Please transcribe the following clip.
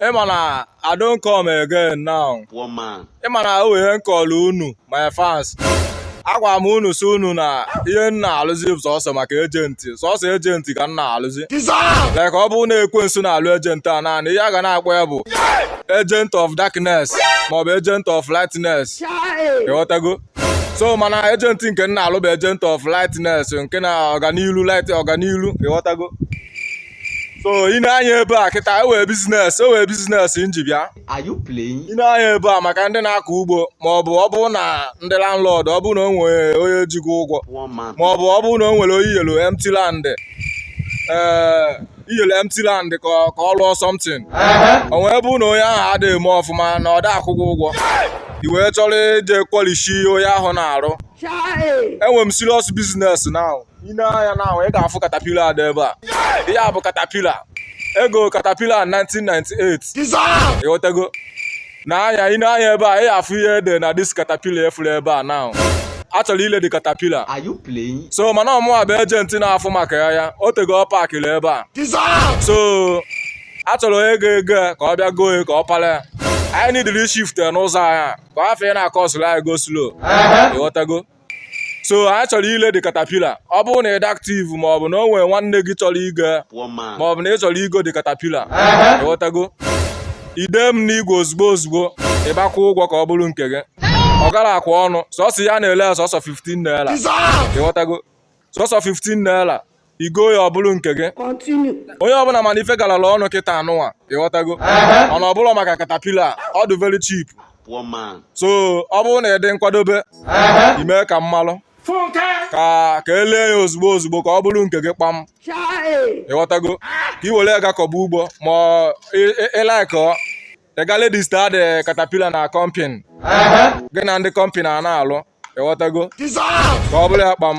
ịma na I don come again now one man ịma na o nwe ihe nkọlụ unu my fans agwa m unu si unu na ihe m na-alụzi sọsọ maka ejenti sọsọ ejenti ka m na-alụzi like ọ bụrụ na ekwensu na-alụ ejenti a naanị ihe a ga na-akpọ ya bụ agent of darkness maọbụ agent of lightness ịghọtago so mana ejenti nke m na-alụ bụ agent of lightness nke na ọganilu light ọganilu ịghọtago so ị nee anya ebe a kịta enwe biznes nji bịa ị nee anya ebe a maka ndị na-akọ ugbo ma ọ bụ ọ bụrụ na ndị landlord ọ bụrụ na o nwere onye ji gị ụgwọ ma ọ bụ ọ bụrụ na o nwere onye i nyelu empty land ee eh, i nyelu empty land ka ọ lụọ something o wee bụ na onye ahụ adịghị eme ọfụma na ọ da akwụ gị ụgwọ i wee chọrọ ije kwalishi onye ahụ na-arụ enwere m serious business now i nee anya now ị ga-afụ katapila a dị ebe a ihe a bụ katapila ego katapila 1998 ịghọtago nee anya ị nee anya ebe a ị ga-afụ ihe e de na dis katapila ị fụrụ ebe a now a chọrọ ile the katapila so mana ọ mụwa bụ ejenti na-afụ maka ya o tego ọ pakịrị ebe a so a chọrọ onye ga-ego ya ka ọ bịa goo ya ka ọ pala ya anyị nidiri shift n'ụzọ anya ka ọ hafụ ị na-akọsụrụ anyị go slow ịghọtago so anyị chọrọ ile the katapila ọ bụrụ na ị dị aktiv ma ọ bụ na o nwere nwanne gị chọrọ igo ya ma ọ bụ na ị chọrọ igo the katapila ịghọtago i dee m n'igwe ozugbo ozugbo ị bịa kwụọ ụgwọ ka ọ bụrụ nke gị ọ garọkwa ọnụ sọsọ ihe a na-ele ya sọsọ 15 naira ịghọtago sọsọ 15 naira i goo ya ọ bụrụ nke gị onye ọbụla ma na ife galara ọnụ kịta n'ụwa ịghọtago mana ọ bụrụ maka katapila ọ dị very cheap so ọ bụrụ na ị dị nkwadobe i mee ka m malụ ka e lee ya ozugbo ozugbo ka ọ bụrụ nke gị kpam ịghọtago ka ị were ya ga kọba ugbo ma ị laịkọ ị gaa register the caterpillar na company gị na ndị company a na-alụ ịghọtago ka ọ bụrụ ya kpam